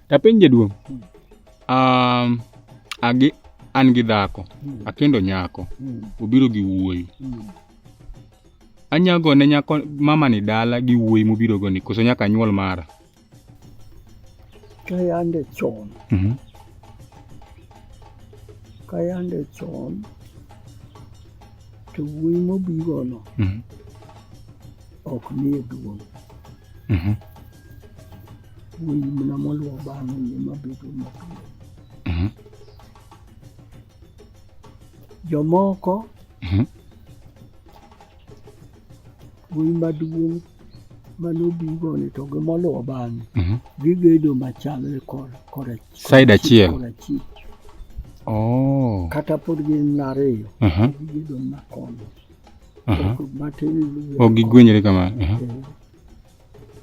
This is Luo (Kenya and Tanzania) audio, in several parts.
Tapenj jaduong'. Um, agi an gi dhako, hmm. akendo nyako, hmm. obiro gi wuoyi. Hmm. Anyago ne nyako mama ni dala gi wuoyi mobiro go ni koso nyaka nyuol mara. Kayande chon. Mhm. Kayande chon to wuoyi mobiro no. Mhm. Ok nie duong'. Mhm. Wuoyi mana moluwo bang'e ni ema bedo mapiyo. Mhm. Jomoko Mhm. wuoyi maduong' mane obigo ni to gi moluwo bang'e Mhm. gigedo machalre kor kora Side achiel. kora chik Oh. kata pod gin ariyo Aha. gigedo makono Aha. matin luwe Ok gigwenyre kamano. Aha. Eh,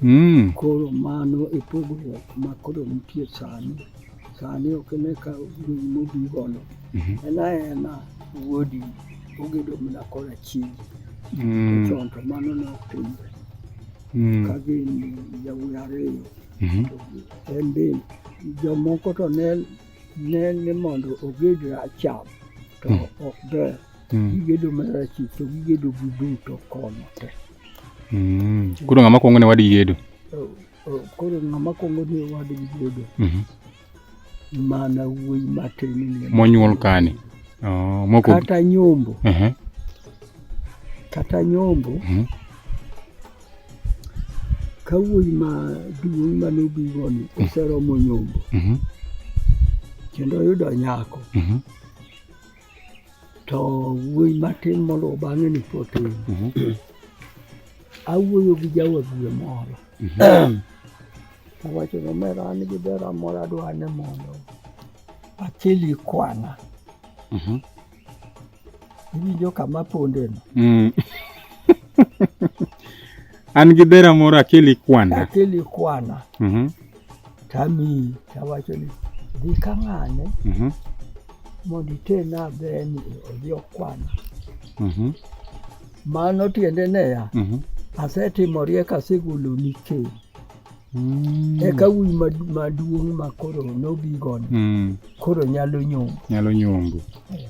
Mm. Koro mano e pogruok ma koro nitie sani. Sani ok ne ka wuoyi mobi gono. Mhm. En aena wuodi ogedo mana kora chiegi. Mm. Chon to mano ne ok timre. Mm. Ka gin yawuoyi ariyo. Mhm. En be jomoko to ne ne ni mondo oged racham to ok ber. mm. gigedo mar achich to gigedo gi duto kono te mm. koro ng'ama kwongo ne wadgi gedo oh, oh, koro ng'ama kwongo ne wadgi gedo mm-hmm. mana wuoyi matin monyuol kani oh, kata nyombo uh-huh. kata nyombo mm-hmm. ka wuoyi ma duong' mane obigoni mm-hmm. oseromo nyombo kendo oyudo nyako to wuoyi matin moluwo bang'e ni potin mhm. awuoyo gi jawagwe moro mhm. awacho ni omera an gi dera moro adwa ne mondo akeli kwana mhm. iwinjo kama pondeno mm. an gi dera moro akeli kwana akeli kwana Tamiyi, tawacho ni dhi ka ng'ane mhm. mondo itena beni odhi okwana. Mhm. Mano tiende neya, mhm. asetimo riek asegoloni keny. Mm. Eka wuoyi maduong' ma koro nobigoni mm. koro nyalo nyombo. Nyalo nyombo. Eh.